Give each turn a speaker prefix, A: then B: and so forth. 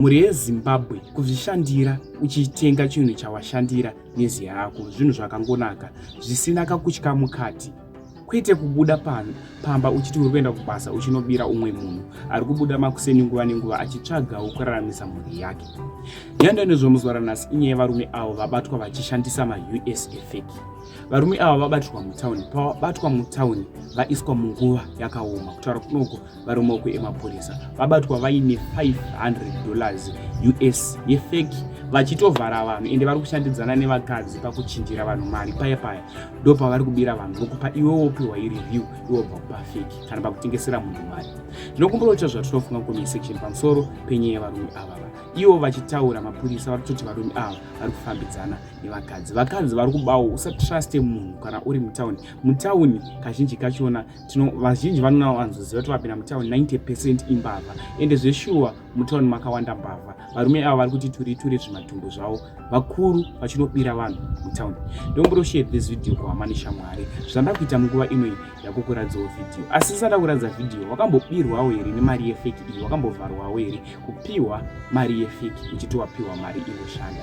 A: mhuri yezimbabwe kuzvishandira uchitenga chinhu chawashandira nezi yako zvinhu zvakangonaka zvisina kakutya mukati kwete kubuda pano pamba uchiti uri kuenda kubasa uchinobira umwe munhu ari kubuda makuseni nguva nenguva achitsvagawo kuraramisa mhuri yake nyando nezvomuzuva ranhasi inyaya yevarume avo vabatwa vachishandisa maus efeki varume ava vabatirwa mutauni pavabatwa mutauni vaiswa munguva yakaoma kutaura kunoko vari mumaoko emapurisa vabatwa vaine 500 dollars us yefeki vachitovhara vanhu ende vari kushandidzana nevakadzi pakuchinjira vanhu mari paya paya ndo pavari kubira vanhu vokupa iwe wopiwa ireview iwe bva kupa feki kana pakutengesera munhu mari tinokumbira kuita zvatinofunga comment section pamusoro penyaya yevarume ava ivo vachitaura mapurisa vari kutoti varume ava vari kufambidzana nevakadzi vakadzi vari kubawo usatruste munhu kana uri mutauni mutauni kazhinji kachona tino vazhinji vanowanzoziva kuti vapinda mutown 90 percent imbavha ende zveshuwa mutown makawanda mbavha varume ava vari kuti turi turi zvimatumbu zvavo vakuru vachinobira vanhu mutown ndomburo share this video kuhama neshamwari zvanda kuita munguva inoyi yakukuradzawo video asi isada kuradza video wakambobirwawo here nemari yefeki iyi wakambovharwawo here kupiwa mari yefeki uchiti wapiwa mari inoshanda